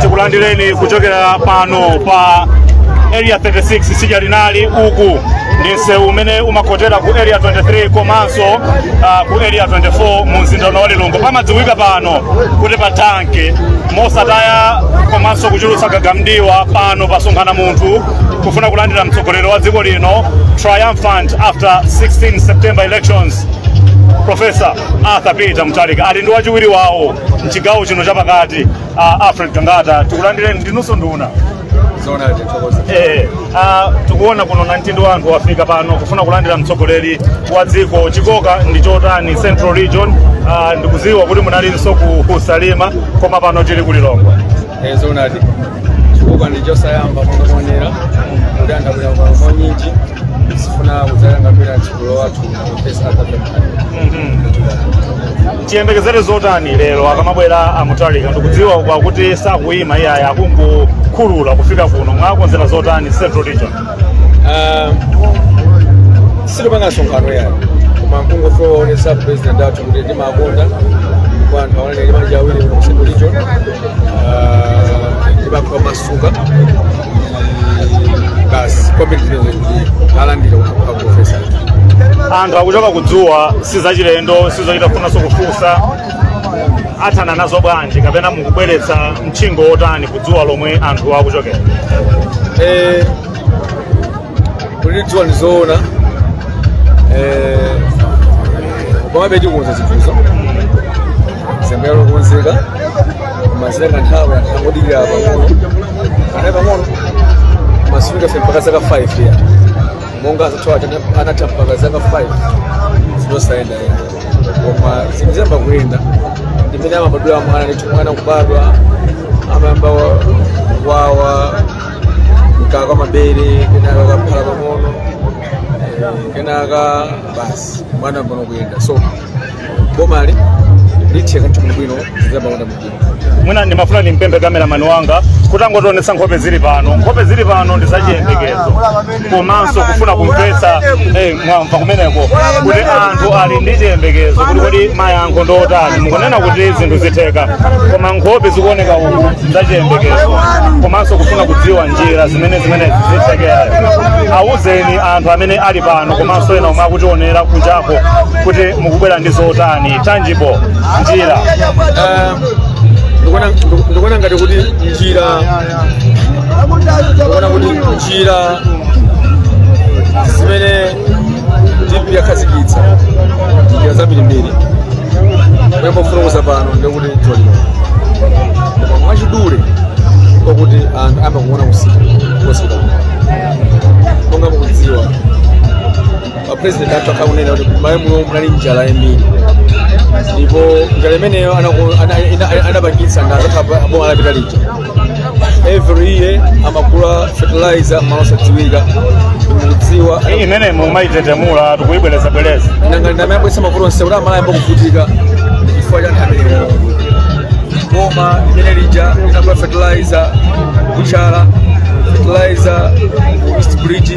tikulandireni kuchokera pano pa area 36 tsidya linali uku ndi msewu umene umakhotera ku area 23 komanso uh, ku area 24 mu mzinda wa lilongwe pamadziwika pano kuti pa tanki mosataya komanso kuchulutsa gaga mdiwa pano pasonkhana munthu kufuna kulandira mtsogoleri wa dziko lino triumphant after 16 september elections profesa arthur peter mutharika ali ndi wachiwiri wawo mchigawo chino chapakati uh, alfred gangata tikulandireni ndinunso nduna zoonadi thokoza Eh, ah, tikuona kuno namtindi wa anthu wafika pano kufuna kulandira mtsogoleri wa dziko chikoka ndi chotani central region ah, ndikudziwa kuti munalinso ku ku salima koma pano tili ku lilongwe e zoonadi chikoka ndi chosayamba mukuonera kuti anthu abwera pano mwaunyinji kufuna kudzachingamira mtsogoleri wathu profesa tiyembekezere zotani lero akamabwera a mutharika ndikudziwa kwa kuti sakuyima iyayi akungokhulula kufika kuno mwakonzera zotani central region Ah, sitipanga msonkhano yayi koma mkungofuna kuwaonesa president athu kuti timawakonda kwa anthu aonene ndi manja awiri ku central region ndi pakwawo amasuke basi kwambiri tinene kuti alandira kwa profesa anthu akuchoka kudzuwa sizachilendo sizochita kufunanso kufunsa athana nazo bwanji kapena mukubweretsa mchingo wotani kudzuwa lomwe anthu akuchokera Eh, kuli dzuwa ndizoona eh, komabe tikukonza zinthuzo zembera lokonzeka mazira kanthawi anthu angodikira pang'ono anayi pang'ono koma sitifika ife mpaka zaka 5 yayi monga azathu anatha mpaka zaka 5 zinthu zosayenda koma zinthu ziyamba kuyenda ndi mmene amabadwira mwana ndithu mwana kubadwa amayamba wayamwa mkaka wa mabere kenaka kaphala pang'ono eh, kenaka basi mwana ayambano kuyenda so bomali litheka zinthu bwinobwino ziyamba kuyenda mujini mwina ndimafuna ndimpemphe kameramani wanga kuti angotionetsa nkhope zili pano nkhope zili pano ndi zachiyembekezo komanso kufuna kumvetsa eh, mwamva kumeneko kuti anthu ali ndi chiyembekezo kuti kodi mayankho ndi otani mukunena kuti zinthu zitheka koma nkhope zikuoneka uku zachiyembekezo komanso kufuna kudziwa njira zimene zimenezi zithekera awuzeni anthu amene ali pano komanso ena omwe akutionera kunjako kuti mukubwera ndi zotani tangible njira Eh, ndikuona ndiku- ndikuona ngati kuti njira ndikuona kuti njira zimene dpp yakhazikitsa njira zambirimbiri kuyamba kufotokoza pano ndikuti tolino koma mwachidule kwakuti anthu ayamba kuona kutsika kotsika monga mukudziwa apurezidenti athu akhala akunena kuti m'Malawi muno munali njala yambiri ndipo njala imeneyo anaku- ana- ina- ana- anapangitsa ndi anzathu aboma lapita lija every year amagula fertilizer malo osadziwika mukudziwa iyi imene mumayitetemula tikuyibwerezabwereza nanga ndi imene yabweretsa mavuto onse kuti Amalawi ayambe kuvutika chifukwa cha nthawi imeneyo boma limene lija linagula fertilizer kubutchala fertilizer ku east bridge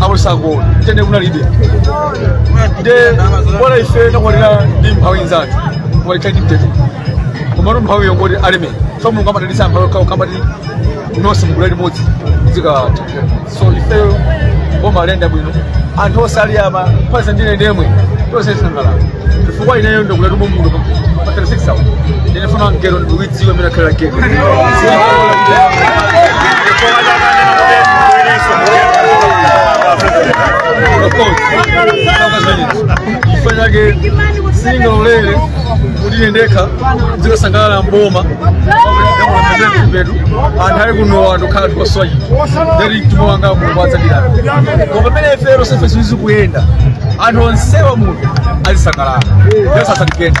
amusakona tende kunalibe nde bola ife nakwanira ndi mphawi nzathu kuwaita ndi mtete komano mphawi yongoti aleme so mulungu amathandiza mphawi kawo kambati nonse mugulu limodzi zikawata so ifeyo boma alenda bwino anthu onse ali ama pasa ndine ndemwe tonse sangalala chifukwa ineyo ndikula tumo munthu pa 36 hours ndinefuna mgero ndiwiti ifanyage singa ulele kuti ndekha zikasangalala mboma mbedu anthu ali kuno anthu khala tikoswayi ndeti mtima wanga kukwatsa ndidala koma pamene ifero sefe ziwizi kuyenda anthu onsewa muno azisangalala ndesasatikendi